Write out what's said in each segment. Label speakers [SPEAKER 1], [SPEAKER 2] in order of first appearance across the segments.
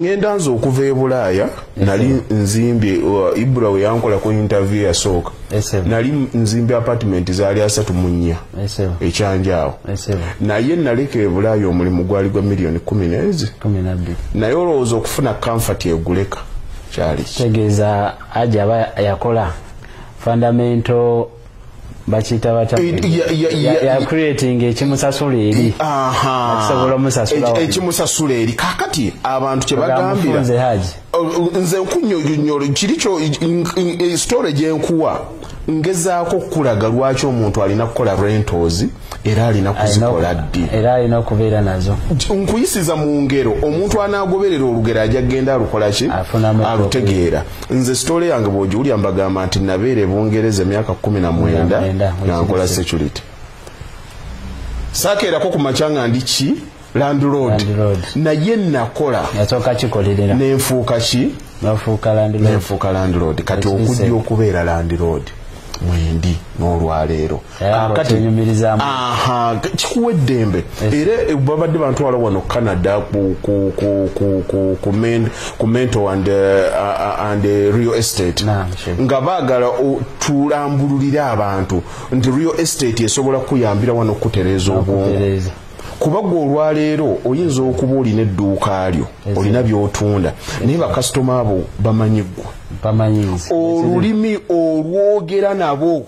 [SPEAKER 1] ngenda nze okuva e bulaaya nali nzimbye uh, ibra we yankolako interview yasooka nali nzimbye apartment zaali asatu mu nnya ekyanjaawo naye naleka e bulaaya omulimu gwali gwa miliyoni kumi neezi naye olowooza okufuna kamfati eguleka kyali kitegeeza
[SPEAKER 2] aja aba yakola fundamental bakiyita batyayakuretinga ekimusasula eri akisobola omusasula ekimusasula eri
[SPEAKER 1] kakati abantu kyebagambira nze nkunyonyolo kiri kyo e, story gyenkuwa ngezaako okukulaga lwaki omuntu alina kukola rentozi era alina kuzikola ddi era alina okubeera
[SPEAKER 2] nazo nkuyisiza mu
[SPEAKER 1] ngero omuntu anaagoberera olugero ajja kugenda alukolaki alutegeera nze sitole yange bwogiwulya mbagamba nti nabeera ebungereza emyaka kumi na mwenda nga nkola security sakeerako ku makya nga ndi ki landlord naye nakola yasooka kikolerera
[SPEAKER 2] nenfuuka ki
[SPEAKER 1] nenfuuka
[SPEAKER 2] landlord kati
[SPEAKER 1] okujja okubeera landlord mwendi n'olwaleero kikuwa eddembe era eh, babadde bantwala wano canada ku mento and uh, eh, real estate nga baagala tulambululire abantu nti real estate esobola kukuyambira wano okutereeza obwongo kuba gwe olwaleero oyinza okuba olina edduuka lyo olina byotunda naye bakasitoma abo bamanyi ggwe olulimi olwogera nabo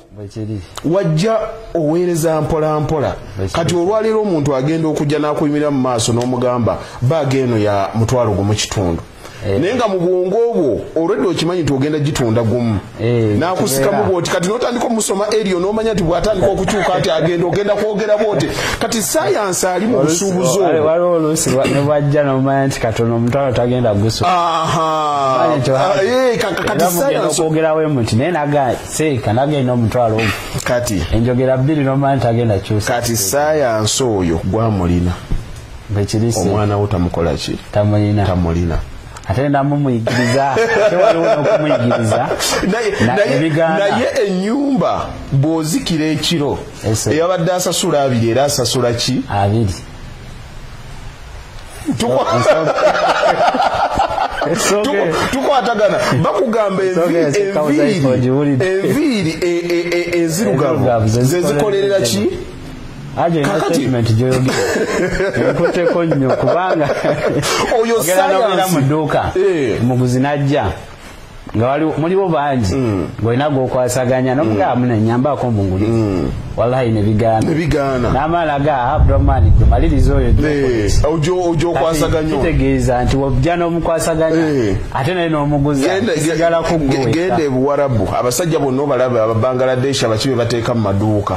[SPEAKER 1] wajja oweereza mpolampola kati olwaleero omuntu agenda okujja n'akuyimirira mu maaso n'omugamba baaga eno ya mutwalo gumu kitundu Eh. naye nga mu bwongo obwo olwedde okimanyi nti ogenda gitunda gumu eh, nakusikamu bwoti kati notandika omusoma erio nomanya nti bwatandika okukyuka nti agenda ogenda kwogera bwoti kati sayansi ali mu busuubuzi obwaliwo oluusi
[SPEAKER 2] nebwajja nomanya nti katono omutwalo tagenda gusoogerawo
[SPEAKER 1] eh, emuti naye
[SPEAKER 2] naga seeka nagenda omutwalo ogu kati enjogera
[SPEAKER 1] bbiri nomanya
[SPEAKER 2] nti agenda kyusa kati sayansi
[SPEAKER 1] oyo gwamulina omwana wo tamukolaki tamulina ate
[SPEAKER 2] namumuyigiriza okumuyigiriza
[SPEAKER 1] naye enyumba bwozikira ekiro eyabadde asasula abiri era asasula ki abiri tukwatagana bakugamba enviiri enviiri e- e- e- enzirugavu zezikolerera ki aje na
[SPEAKER 2] statement joyoge nkote ko nyo kubanga oyo
[SPEAKER 1] sayana mu duka
[SPEAKER 2] eh. muguzi najja nga wali muliwo bangi mm. ngolina gwokwasaganya nomugaa mm. mune nyamba ko munguli mm. wallahi nebigana nebigana namala ga abdomani tumaliriza oyo eh, ojo ojo kwasaganya
[SPEAKER 1] kitegeeza nti wabja
[SPEAKER 2] nomukwasaganya eh. ate naye nomuguzi sigala kugwe gende buwarabu
[SPEAKER 1] abasajja bonna obalaba ababangaladeshi abakibe bateeka mu maduuka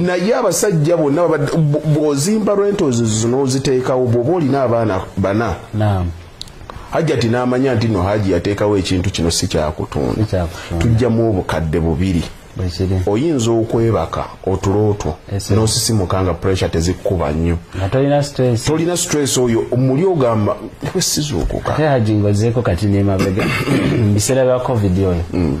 [SPEAKER 1] naye abasajja bonna bwozimba rentals zino oziteekawo bwoba olina abaana bana hajjati n'amanya nti no haji yateekawo ekintu kino si kyakutunda tujjamu obukadde bubiri oyinza okwebaka otulo otwo n'osisimuka nga pressure tezikkuba nnyo tolina stress oyo muli ogamba sizuukuka haji ngozeeko
[SPEAKER 2] kati nemabega mu biseera bya covid oyo mm.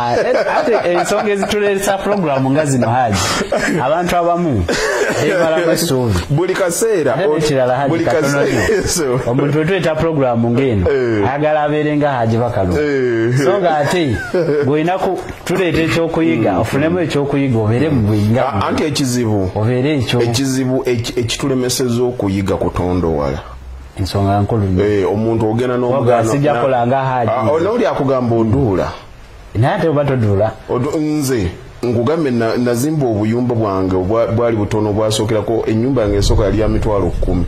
[SPEAKER 1] Ah, eh, ate
[SPEAKER 2] ensonga ezituleesa pulogulaamu nga zino haji abantu abamu ebalamu essuubi
[SPEAKER 1] buli kaseera ekirala haji katono
[SPEAKER 2] omuntu wetuyita pulogulaamu ng'eno eh. ayagala abeere nga haji bakalu eh. so nga ate bwolina tuleeta ekyokuyiga hmm. ofunemu ekyokuyiga obeere mu buyinga ah, anti ekizibu
[SPEAKER 1] obeere ekyo ekizibu ekitulemeseza okuyiga kutonda owala ensonga
[SPEAKER 2] nkulu
[SPEAKER 1] omuntu ogenda
[SPEAKER 2] n'omugaano
[SPEAKER 1] ah,
[SPEAKER 2] n'oli
[SPEAKER 1] akugamba oduula
[SPEAKER 2] naye ate oba todula nze
[SPEAKER 1] nkugambe nazimba obuyumba bwange bwali butono bwasookerako enyumba yange esooka yali ya mitwalo kkumi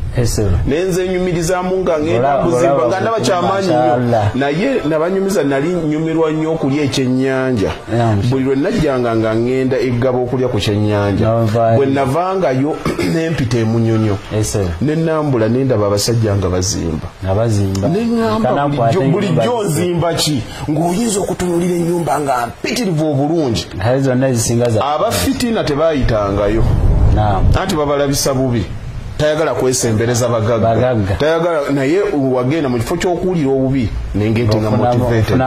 [SPEAKER 1] naye nze enyumirizamu nga ngenda kuzimba nga ndaba kyamaanyi nyo naye nabanyumiza nali nyumirwa nnyo okulya ekyenyanja buli lwe najjanga nga ngenda eggaba okulya ku kyenyanja bwe navangayo nempita emunyonyo ne nambula nendaba abasajja nga bazimba neŋamba bulijjo nzimba ki ng'oyinza okutunulira ennyumba nga mpitirivu obulungi naye zonna ezisinga za abafitina tebayitangayo anti babalabisa bubi tayagala kwesembereza bagagga tayagala naye wagenda mu kifo ky'okuwulira obubi nengete nga motivated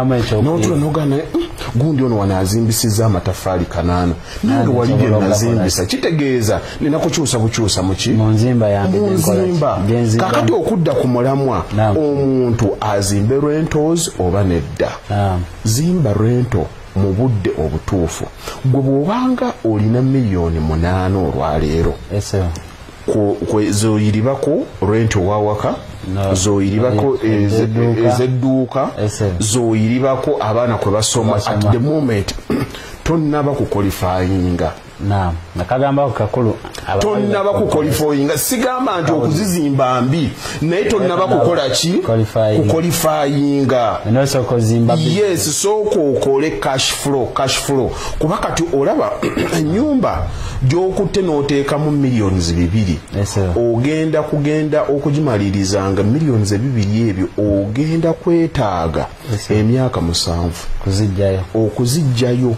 [SPEAKER 1] n'otula nogana hmm, gundi ono wano azimbisizza amatafaali kanaana nange wali bye nazimbisa kitegeeza nina kukyusa bukyusa muki munzimba kakati okudda ku mulamwa omuntu azimbe rentos oba nedda zimba rento mu budde obutuufu gwe bw'obanga olina miliyoni munaana olwaleero zoyiribako rent owawaka zoyiribako ezedduuka zoyiribako abaana kwe basoma at the moment tonnaba kukolifayinga
[SPEAKER 2] tonnaba
[SPEAKER 1] kukolifayinga sigamba nti okuzizimba mbi naye tonnaba kukola ki kukolifayinga yes sooka okole cash flow cash flow kuba kati olaba enyumba gyokutte n'oteekamu millions bibiri ogenda kugenda okugimalirizanga millions ebibiri ebyo ogenda kwetaaga emyaka musanvu okuzijjayo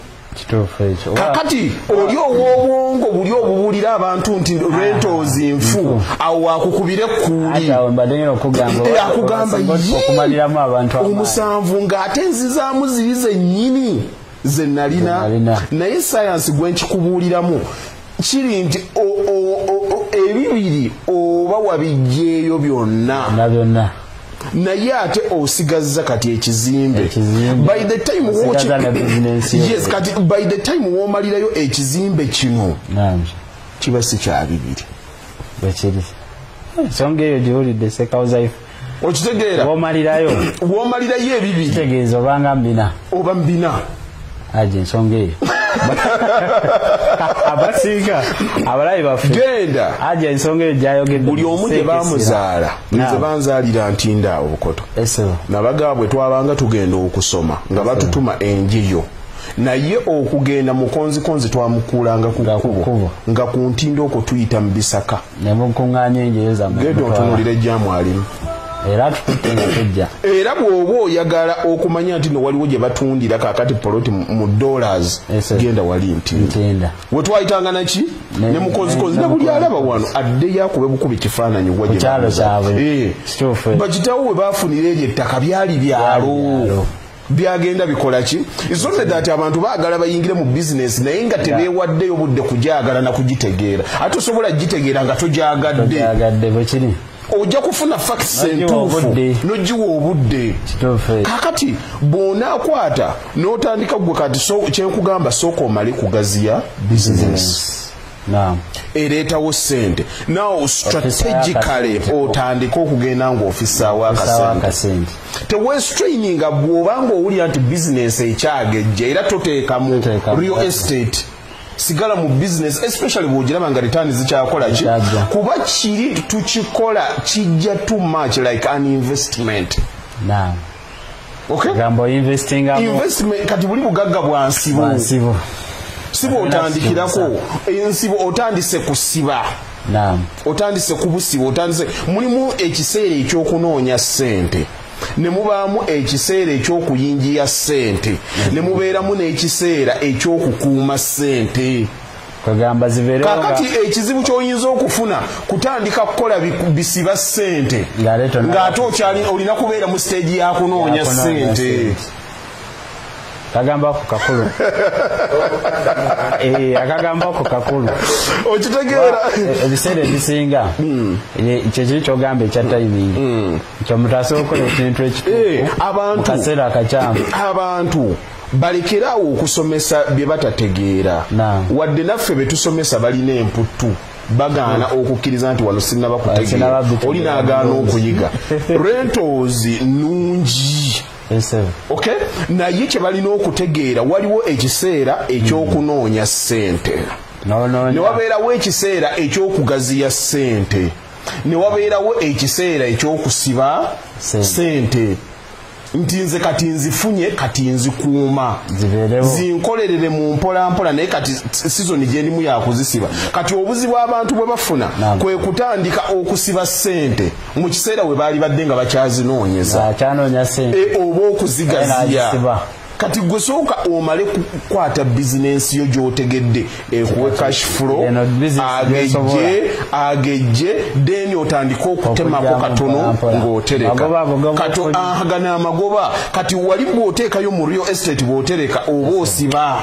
[SPEAKER 1] kakati oli ow'obwongo buli obubuulira abantu nti rentals nfu awo wakukubira ekkuuliakugamba omusanvu ng'ate nzizaamu zibi zennyini ze nalina naye sayansi gwe nkikubuuliramu kiri nti ebibiri oba wabijjeeyo byonna byonna naye ate osigazza kati ekizimbe by the time yes kati by the time womalirayo ekizimbe kino kiba si kyabibiri bwekiri ensonga
[SPEAKER 2] eyo giwulidde sekawuzaifu okitegeera
[SPEAKER 1] womalirayo womalirayo ebibi kitegeeza obanga
[SPEAKER 2] mbina oba mbina
[SPEAKER 1] aje
[SPEAKER 2] ensonga eyo abasiika abalabi baffe genda aja
[SPEAKER 1] ensonga eyo
[SPEAKER 2] gyayogedde buli omu gye bamuzaala
[SPEAKER 1] nze banzaalira ntinda obukoto nabagaa bwe twabanga tugenda okusoma nga batutuma enjiyo naye okugenda mukonzikonzi twamukuulanga ku kkubo nga ku ntindo okwo tuyita mu bisaka ne mukuŋŋaanya enjeyo
[SPEAKER 2] zammwe genda otunuulira ejjaamu
[SPEAKER 1] alimu era atukutte nga tujja era bw'oba oyagala okumanya nti no waliwo gye batundira kaakati poloti mu dollars genda wali nti we twayitanga naki ne mukozikozi ne buli alaba wano addeyo akube bukuba ekifaananyi wa eh. bakitawo we baafunira eryo ettaka byali byalo byagenda bikola ki is only that abantu baagala bayingire mu business naye nga tebeewaddeyo budde kugyagala na kugitegeera ate osobola gitegeera nga togyagadde
[SPEAKER 2] ojja kufuna
[SPEAKER 1] fakisi entuufu nogiwa obudde kakati bw'onaakwata n'otandika gwe kati kyenkugamba sooka omale kugaziya business ereetawo sente now strategically otandika okugenda ngaofisaawo akasente tewestraininga bwoba nga owulira nti bizinesi ekyagejja era toteekamu real estate sigala mu business especially bwogiraba nga return zikyakola ki kuba kiri tukikola kijja too much like an investment nah. kati buli bugagga bwansibu siba otandikirako ensibo otandise kusiba otandise kubusiba otandise mulimu ekiseera ekyokunoonya ssente ne mubaamu ekiseera eky'okuyingiya ssente ne mubeeramu n'ekiseera eky'okukuuma ssente kakati ekizibu kyoyinza okufuna kutandika kukola bisiba sente ngaate okyali olina kubeera mu stage yakunoonya sente
[SPEAKER 2] kagamba ku kakulu eh, akagamba ku kakulu okitegeera
[SPEAKER 1] eh, ebiseera
[SPEAKER 2] ebisinga hmm. eh, kyekiri kyogamba ekya timing hmm. kyomutaasa okukola ekintu ekituufu eh, mu kaseera akakyamu abantu
[SPEAKER 1] balekere awo okusomesa bye batategeera wadde naffe be tusomesa balina emputtu bagaana hmm. okukkiriza nti wano sinnaba kutegeera oli n'agaana okuyiga rentozi nnungi ok naye kye balina okutegeera waliwo ekiseera ekyokunoonya ssente ne wabeerawo ekiseera ekyokugaziya ssente ne wabeerawo ekiseera ekyokusiba ssente nti nze kati nzifunye kati nzikuuma zinkolerere mu mpolampola naye kati sizoni gyendimu yakuzisiba kati obuzibu abantu bwe bafuna kwe kutandika okusiba sente mu kiseera we baali badde nga bakyazinoonyeza e, oba okuzigaziya kati gwe sooka omale kukwata bizinensi yo gyotegedde ekuwe cash flow agejje agejje deni otandike okutemako katono ng'otereka kato agana amagoba kati wali bw'oteekayo mu real estate bw'otereka oba osiba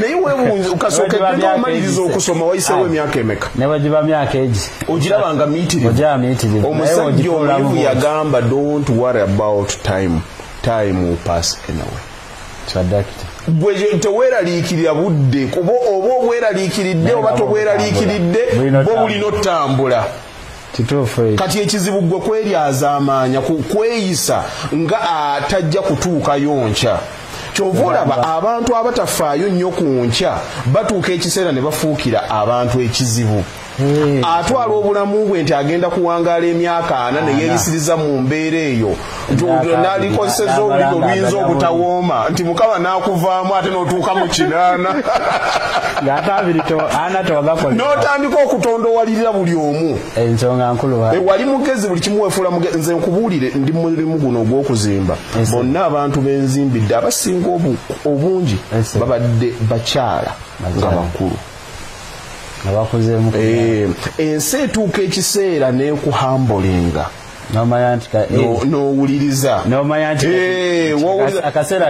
[SPEAKER 1] naye webunze kasooke genda omaliriza okusoma wayisewo emyaka emeka nebagiba myaka
[SPEAKER 2] egi ogiraba nga
[SPEAKER 1] miitirivu omusajja omuyivu yagamba don't worry about time time will pass anyway kyadakita gwe teweraliikirira budde kuba oba obweraliikiridde oba tobweraliikiridde bwo bulina otambula kati ekizibu gwe kwelyazaamaanya kukweyisa nga atajja kutuukayo nkya kyova olaba abantu abatafaayo nnyo ku nkya batuuka ekiseera ne bafuukira abantu ekizibu atwala obulamu bwe nti agenda kuwangaala emyaka ana neyeyisiriza mu mbeera eyo nti olwo nalikozeseza olulimi oluyinza obutawooma nti mukama nakuvaamu ate notuuka mu kinaana notandika okutondowalirira buli omu ewali
[SPEAKER 2] eh, mugezi buli kimu
[SPEAKER 1] wefuula mugezi nze nkubuulire ndi mulimu guno ogwokuzimba bonna abantu benzimbidde abasinga obungi babadde bakyala nga bakulu eh, ensi etuuka ekiseera nekuhambolinga nomanya nti nowuliriza nomanya nti
[SPEAKER 2] akaseera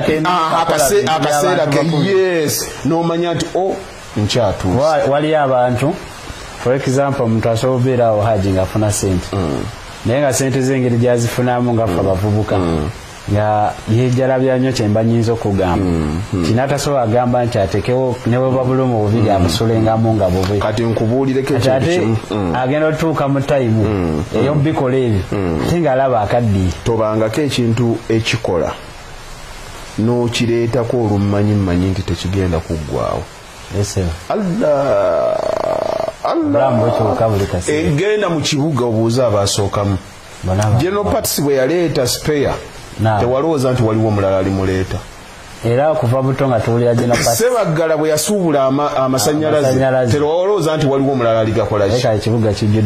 [SPEAKER 2] akaseera
[SPEAKER 1] ke yes nomanya nti o oh, nkyatuusa waliyo abantu
[SPEAKER 2] for example omuntu asobola obeera awo haji ngaafuna sente mm. naye nga sente zengeri gyazifunamu ngafe mm. abavubuka mm. nga yejalabya nnyo kyemba nyinza okugamba mm, mm. kinatasobola agamba nti atekewo neweba bulumu bubiri mm. abusulengamu nga bubi kati nkubuulireko
[SPEAKER 1] ate agenda otutuuka
[SPEAKER 2] mu tayimu eyo bikola ebyo ate nga alaba akaddiye tobangako ekintu
[SPEAKER 1] ekikola nokireetako olummanyi mmanyi nti tekigenda kuggwawo egenda mu kibuga obuuza abaasookamu general parts bwe yaleeta spare tewalowooza nti waliwo omulala alimuleeta era okuva
[SPEAKER 2] buto nga tuwulira gino sebaggala bwe yasuubula
[SPEAKER 1] amasanyalaze terowolooza nti waliwo omulala aligakolaki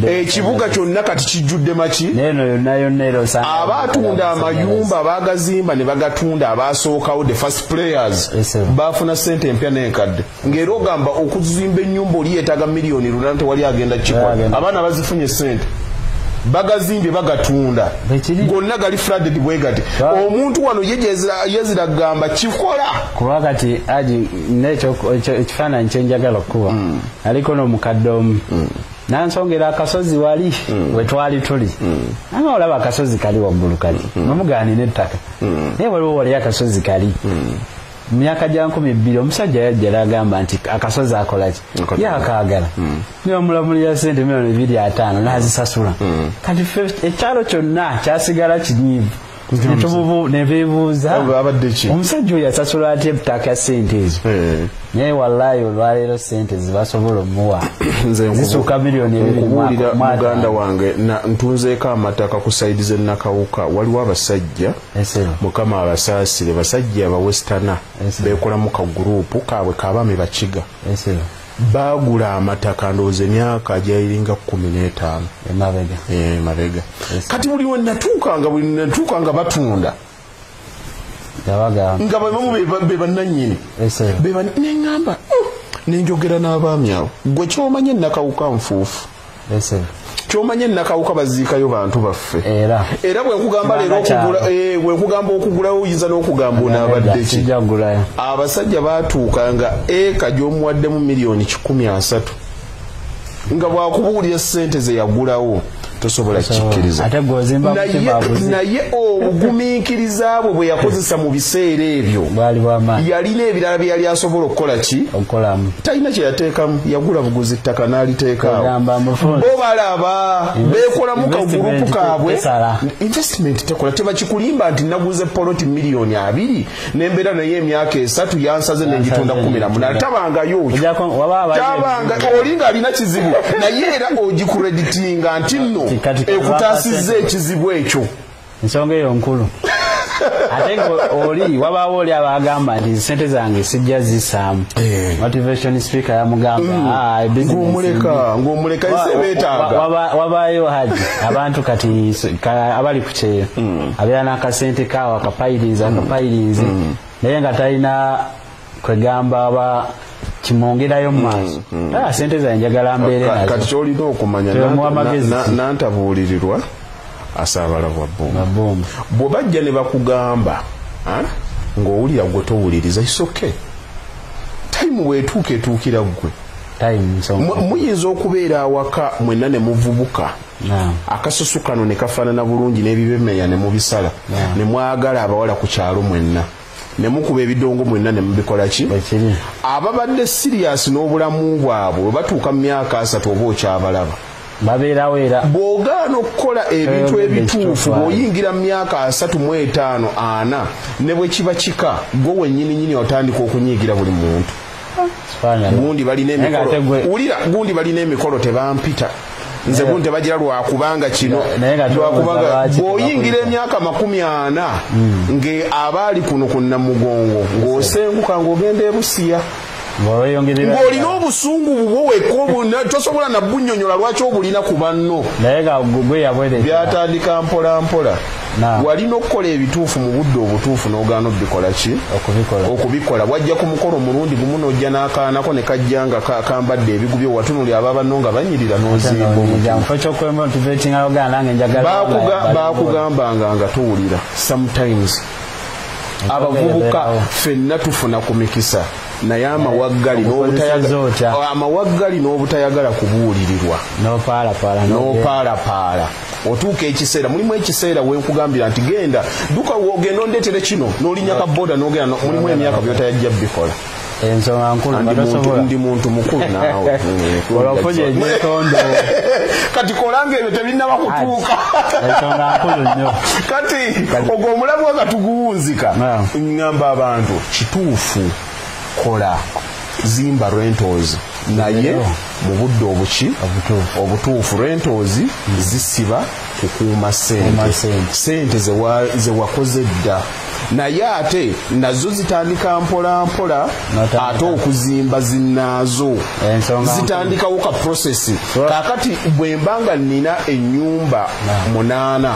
[SPEAKER 1] ekibuga kyonna kati kijjudde maki aba atunda amayumba baagazimba ne bagatunda abaasookawo the first players baafuna ssente empya n'enkadde ng'era ogamba okuzimba ennyumba oli yeetaaga miliyoni lunana tewali agenda kikola abaana bazifunye ssente bagazimbye bagatunda gonna gali fraded bwe gati omuntu wano yezira kugamba kikola kuba kati
[SPEAKER 2] aji ekifaananyi kyenjagala okukuba mm. aliko n'omukadde omu mm. nansongera akasozi wali mm. wetwali tuli ama olaba akasozi kali waggulu kali nomugaanina ettaka naye waliwo wali akasozi kali mu myaka gya nkumi bbiri omusajja yajja nagamba nti akasozi akolaki yakaagala hmm. nibamulamulira sente milioni ebiri ataano nazisasula hmm. kati ekyalo kyonna kyasigala kinyiivu omusajja oyo asasula atya ebutaaka sente ezo eh. naye wallayi olwaleero sente zibasobola omuwa zisuuka milioni ebirimuwulira muganda wange
[SPEAKER 1] ntunzeeko amataka ku saidi zenakawuka waliwo abasajja mukama abasaasire basajja abawesitana bekolamu ka guruupu kaabwe kabaami bakiga baagula amataka ndowooza emyaka ajayiringa kumi n'etaano emabega eh, kati buli wenatuukanga buli natuukanga batunda nga babamu be bannanyini neŋamba oh, nenjogera n'abaami abo gwe kyomanye nakawuka nfuufu kyomanye nakawuka baziikayo bantu baffe era era bwenkugamba leero okugula eh, bwenkugamba okugulawo oyinza n'okugamba onaabaddeki abasajja baatuuka nga eka gyomuwaddemu miliyoni kikumi asatu nga bwakubuulira sente zeyagulawo tosobola kikirizanaye obugumiikiriza bwe bweyakozesa mu biseera ebyo yalina ebirala byeyali asobola okukola ki talina kyeyateekamu yagula buguzi ttaka n'aliteekaawo bo balaba beekolamu kagurupu kaabwe investment tekola tebakikulimba nti naguze poloti miliyoni abiri nembeera naye emyaka esatu yansaze nengitunda kumi na munana tabangayo otabanga oli ng'alina kizibu naye era ogikureditinga nti nno ekutaasizza ekizibu ekyo ensonga eyo
[SPEAKER 2] nkulu ate oli wabaawo oli abaagamba nti sente zange sijja zisaamu eh. motivation speaker yamugambaawabaayo
[SPEAKER 1] mm. ah, haji
[SPEAKER 2] abantu kati abali ku kyeyo mm. abeera n'akasente kaawo akapayirinzi akapayirinzi mm. naye nga talina kwegamba aba kimwongerayo mu maaso mm, mm. Ah, sente zaye njagala mbeere nazo kati kyolina okumanya
[SPEAKER 1] nantabuulirirwa asaabala bwa bomu bwe bajja ne bakugamba ah, ng'owulira gwe towuliriza isoke tayimu bwetuuka etuukira ggwe muyinza okubeera awaka mwenna ne muvubuka akasusu kano ne kafaanana bulungi n'ebibemeya ne mubisala ne mwagala abawala ku kyalo mwenna ne mukuba ebidongo mwenna ne mubikola ki ababadde siriyasi n'obulamu bwabwe bwe batuuka mu myaka asatu oba okyabalaba babeerawo
[SPEAKER 2] era bw'ogaana okukola
[SPEAKER 1] ebintu ebituufu bw'oyingira mu myaka asatu mu etaano ana ne bwe kiba kika gwe wennyininyini otandika okunyiigira buli muntu gundi balina emikolo wulira gundi balina emikolo tebampita nze gundi tebagira lwakubanga kino lwakubanga bw'oyingira emyaka makumi ana hmm. nge abaali kuno ku namugongo ng'osenguka ng'ogenda ebusiya ng'olina obusungu bubwo wekka tosobola nabunyonyola lwaki obulina ku banno byatandika mpolampola walina okukola ebituufu mu budde obutuufu n'ogaana obikola ki okubikola wajja ku mukolo omulundi gumu n'ojja n'akaanako ne kajja nga kambadde ebigubye watunuli aba banno nga banyirira n'ozimbabakugambanga nga tuwulira sometimes abavubuka fenna tufuna ku mikisa naye amawaggali amawaggali n'obutayagala kubuulirirwa n'opaalapaala otuuka ekiseera mulimu ekiseera wenkugambira nti genda duka wogenda ondetere kino nolinya ka boda nogenda mulimu emyaka byotayajja bikola ensonga
[SPEAKER 2] nkulu ndi muntu
[SPEAKER 1] mukulu naawe olafunye
[SPEAKER 2] ebyetondo kati
[SPEAKER 1] kolanga ebyo tebinnaba kutuuka ensonga nkulu
[SPEAKER 2] nnyo kati
[SPEAKER 1] ogwo omulamu nga tuguwunzika ngamba abantu kituufu kola zimba rentals naye mu budde obuki obutuufu rentoozi zisiba kukuuma sente sente zewakoze dda naye ate nazo zitandika mpolampola ate okuzimba zinaazo zitandikawo ka prosesi kakati bwemba nga nina enyumba munaana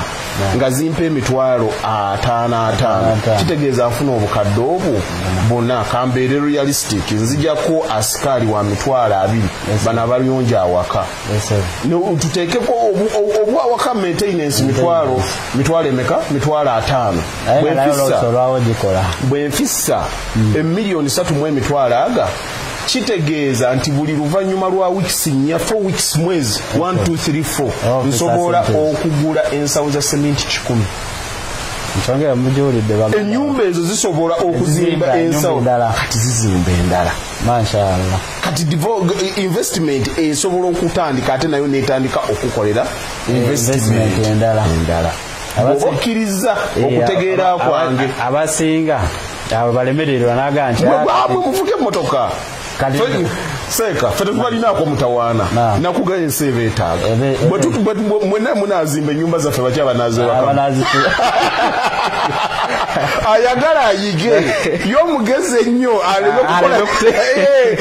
[SPEAKER 1] nga zimpa emitwalo ataano ataano kitegeeza nfuna obukadde obwo buna kambeere realistic nzijako asikaali wa mitwalo abiri bano abalyonja awaka tuteekeko obwawaka maintenance mitwalo mitwalo emeka mitwalo ataano bwenfissa bwenfissa emiliyoni satu mu emitwalo aga kitegeeza nti buli luvannyuma lwa weeks nnya four weeks mwezi 1234 oh, nsobola okugula ensawo za seminti kikumi enyumba ezo zisobola okuzimba ensawo kati zizimba endala
[SPEAKER 2] kati
[SPEAKER 1] investment esobola okutandika ate nayo netandika okukolera eh, investment endala okkirizza eh, okutegeera kwange abasinga
[SPEAKER 2] abo balemererwa naga nti bamwe muvuga
[SPEAKER 1] emmotoka seeka fe tetubalinaako mutawaana nakuga ensi eba etaaga mwena munazimba enyumba zaffe baki abanazewakamu ayagala ayige yomugezi ennyo aleme kukola eh, eh,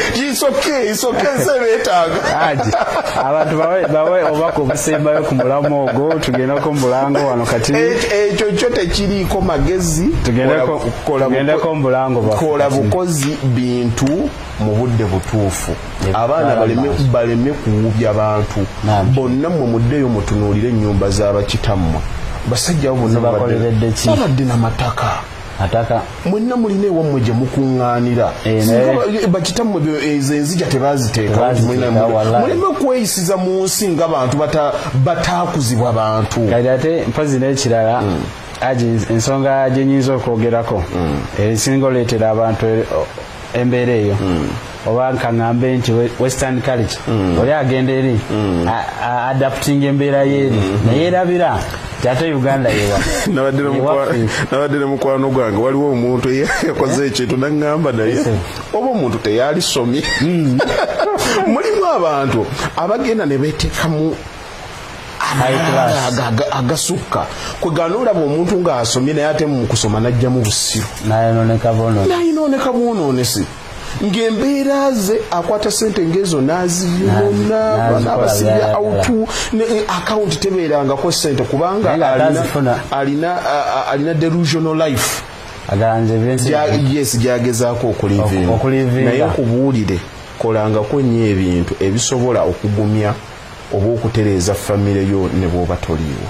[SPEAKER 2] abantu bawe obaka obusembayo ku mulamu ogwo tugendeko mubulango wano kati ekyo kyo
[SPEAKER 1] tekiriiko magezi tugendeko
[SPEAKER 2] mubulango kola bukozi
[SPEAKER 1] bintu mu budde butuufu abaana baleme kuwubya bantu bonna mwe muddeyo mutunuulire ennyumba z'abakitammwe basajja bo bonna babadde na mataka ataka mwenna mulina ewamwe gye mukuŋŋaanira eh, bakitammwe ezo enzija tebaaziteekamuleme okweyisiza mu nsi nga bantu bataakuzibwa bantu kati ate mpazi
[SPEAKER 2] n'ekirala hmm. aji ensonga gye nyinza okwogerako hmm. esinga oleetera abantu embeera eyo mm. oba nkaŋambe nti western culture mm. oli agenda eri mm. adapting embeera yeeri mm-hmm. naye erabira ate uganda yewanabadde
[SPEAKER 1] ne mukwano gwange waliwo omuntu eyakoze ekintu naŋamba naye oba omuntu teyalisomye mulimu abantu abagenda ne betekamu agasukka kwegana olaba omuntu ngaasomye naye ate mukusoma najjamu busiru nayononeka bwononesi ng'embeera ze akwata sente ngezo naziyona nabasibya autu eh, akawunti tebeerangako sente kubanga alina delusional life yes gyagezaako okulivinga naye nkubuulire Kolangako nnyo ebintu ebisobola okugumya oba okutereeza famire yo ne bw'oba toliiwo.